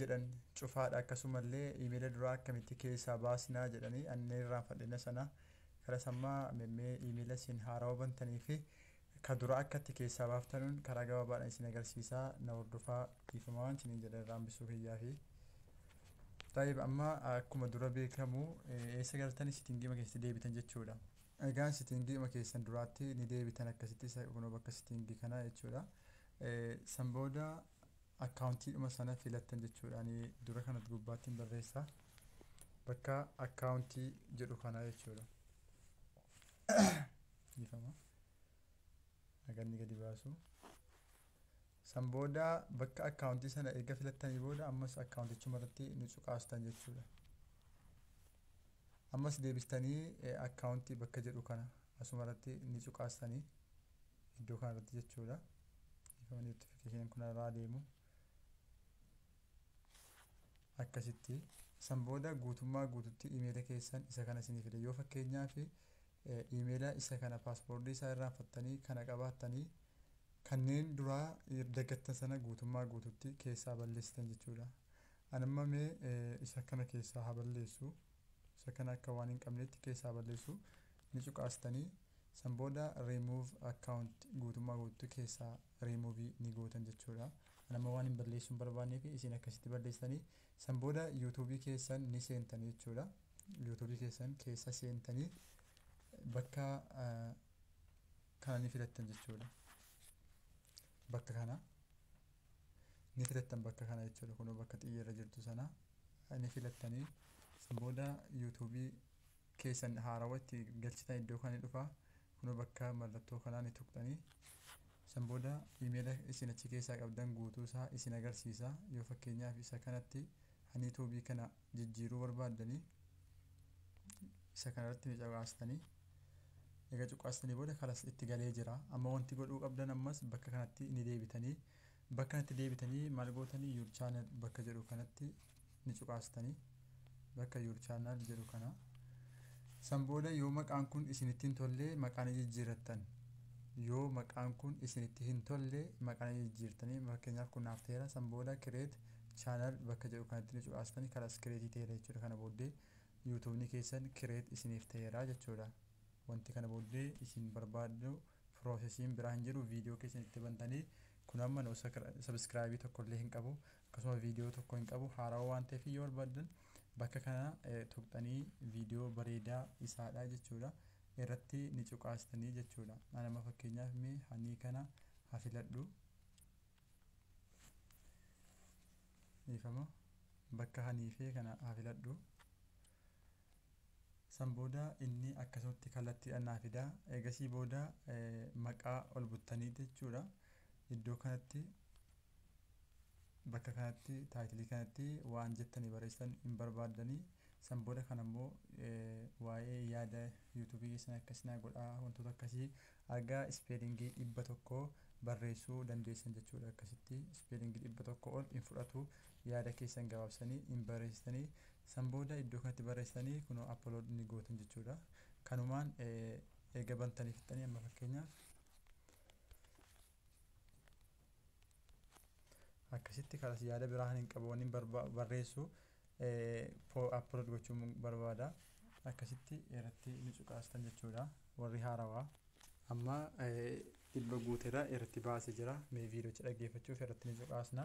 jedhan cufaadha akkasumallee imeela duraa akkamitti keessaa baasnaa jedhanii annee irraan fadhina sana kara sammaa memmee imeela isin haarawa bantanii fi ka dura akkatti keessaa baaftanuun karaa gabaabaadhaan isin agarsiisaa na hordofaa dhiifamaa waan isiniin jedhan irraan bissuu kiyyaa fi Taayib amma akkuma dura beekamu eessa galtanii sitingiima keessatti deebitan jechuudha. Egaan sitingiima keessan duraatti ni deebitan akkasitti isa kunoo bakka sitingi kana jechuudha. San booda akkaawuntiidhuma sana filattan jechuudha. Ani dura kanatti gubbaatti hin barreessa. Bakka akkaawuntii jedhu kana jechuudha. Dhiifama. Naganni gadi baasu. San booda bakka akkaawuntii sana erga filattanii booda ammas akkaawuntichuma irratti nu cuqaastan jechuudha. Ammas deebistanii akkaawuntii bakka jedhu kana asuma irratti ni cuqaastanii. iddoo kana irratti jechuudha ifama notification kun irraa deemu akkasitti san booda guutummaa guututti imeela keessan isa kana isinii fide yoo fakkeenyaa fi imeela isa kana paaspoortii isaa irraanfattanii kana qabaattanii kanneen duraa daggattan sana guutummaa guututti keessaa balleessitan jechuudha anamma mee isa kana keessaa haa balleessu isa kana akka waan hin qabneetti keessaa balleessu ni cuqaastanii san booda remove account guutummaa guututti keessaa remove ni gootan jechuudha an amma waan hin balleessu hin barbaanneefi isin akkasitti balleessitanii san booda youtube keessan ni seentanii jechuudha youtube keessan keessa seentanii bakka kana ni filattan jechuudha bakka kana ni filattan bakka kana jechuudha kunoo bakka xiyya irra jirtu sana ni filattanii san booda yuutuubii keessan haarawa itti galchitan iddoo kana ni dhufa kunoo bakka mallattoo kanaa ni tuqxanii san booda imeela isin achi keessaa qabdan guutuu isaa isin agarsiisa yoo fakkeenyaaf isa kanatti ani yuutuubii kana jijjiiruu barbaaddanii isa kana irratti ni cuqaastanii egaa cuqaastanii booda kalas itti galee jira amma wanti godhuu qabdan ammas bakka kanatti ni deebitanii bakka kanatti deebitanii maal gootanii your channel bakka jedhu kanatti ni cuqaastanii bakka your channel jedhu kana san booda yoo maqaan kun isinitti hin tollee maqaa ni jijjiirrattan yoo maqaan kun isinitti hin tollee maqaa ni jijjiirtanii fakkeenyaaf kun naaf ta'eera san booda create Channel bakka jedhu kanatti ni cuqaastani kalas create ta'eera jechuudha kana booddee youtubeni keessan create isiniif ta'eera jechuudha wanti kana booddee isin barbaaddu processiin biraa hin jiru video keessan itti bantani kun amma no subscribe tokko illee hin qabu akkasuma video tokko hin qabu haarawa waan ta'eef yoo barbaaddan bakka kana tuqxanii video bareedaa isaadha jechuudha irratti ni cuqaastanii jechuudha anama fakkeenyaaf mee hanii kana hafiladhu dhiifama bakka haniifee kana haa filadhu san booda inni akkasumatti kallattiidhaan naa fida eegasii booda maqaa ol buttanii jechuudha iddoo kanatti bakka kanatti taayitilii kanatti waan jettanii barreessitan hin barbaaddanii san booda kan ammoo waa'ee yaada yuutuubii keessan akkasii naa godhaa wantoota akkasii Haga ispeelingii 100 barreessuu dandeessan jechuudha. Akkasitti ispeelingii 100 ol hin fudhatu. Yaada keessan gabaabsanii hin barreessitanii. San booda iddoo kanatti barreessitanii kunoo upload ni gootan jechuudha. Kanumaan eega bantanii fixxanii amma fakkeenyaaf akkasitti kanas yaada biraa kan hin qabu wanni barba- barreessu upload gochuun barbaada akkasitti irratti ni cuqaastan jechuudha warri haarawaa amma eh, dhibba guuteera irratti baase jira mee viidiyocha dhaggeeffachuuf irratti ni cuqaasna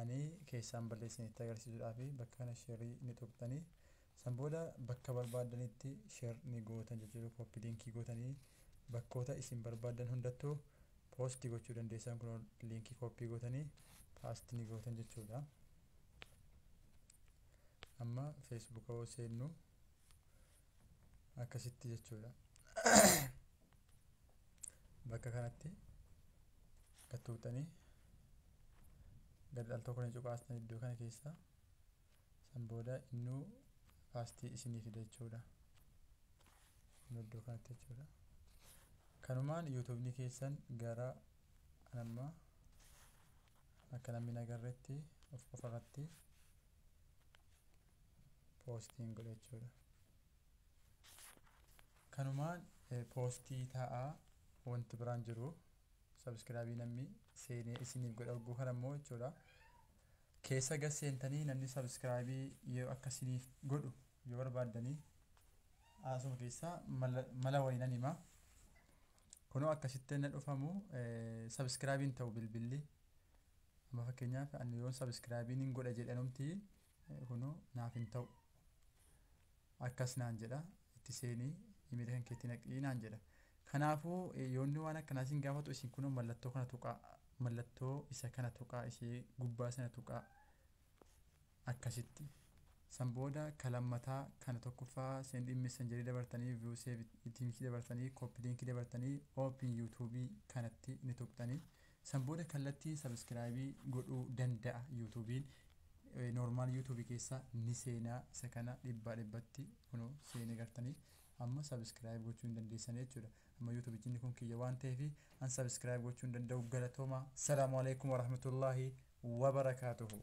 Ani keessaan ballee isinitti agarsiisuudhaafi bakka kana share ni tuqxanii san booda bakka barbaaddanitti share ni gootan jechuudha copy linkii gootanii bakkoota isin barbaaddan hundattu post gochuu dandeessan kunoo linkii copy gootanii paste ni gootan jechuudha amma facebook hoo seennu akkasitti jechuudha bakka kanatti gad tuqxanii Garri al tokko ni cuqaastan iddoo kana keessa. San booda innuu faastii isinii fida jechuudha. Innuu iddoo kanatti jechuudha. Kanumaan yuutuubni keessan gara anamma akka namni nagarretti of qofarratti poostiin godha jechuudha. Kanumaan poostii taa'aa wanti biraan jiru Subscribe namni seenee isiniif godha hogguu kana immoo jechuudha. Keessa gad seentanii namni subscribe yoo akka isiniif godhu yoo barbaaddanii asuma keessaa mala mala wayii nan hima. Kunoo akkasitti na dhufamu subscribe hin ta'u bilbilli. Amma fakkeenyaaf ani yoon subscribe hin godha jedhanumti Kunoo naaf hin ta'u. Akkas naan jedha. Itti seeni imeela kan keetti naqii naan jedha. Kanaafuu yoonni waan akkanaa isin gaafatu isin kunoo mallattoo kana tuqaa. Mallattoo isa kana tuqaa ishee gubbaa sana tuqaa. Akkasitti. San booda ka lammataa kana tokkoffaa send in messenger dabartanii view save teams dabartanii copy link dabartanii open youtube kanatti ni tuqxanii. San booda kallattii subscribe godhuu danda'a youtubin normal youtube keessa ni seena isa kana dhibbaa dhibbatti kuno seene gartanii amma subscribe gochuu hin dandeessanii jechuudha amma youtube jinni kun kiyya waan ta'eef an subscribe gochuu hin danda'u galatoomaa salaamu alaikum warahmatullahi wabarakaatuhu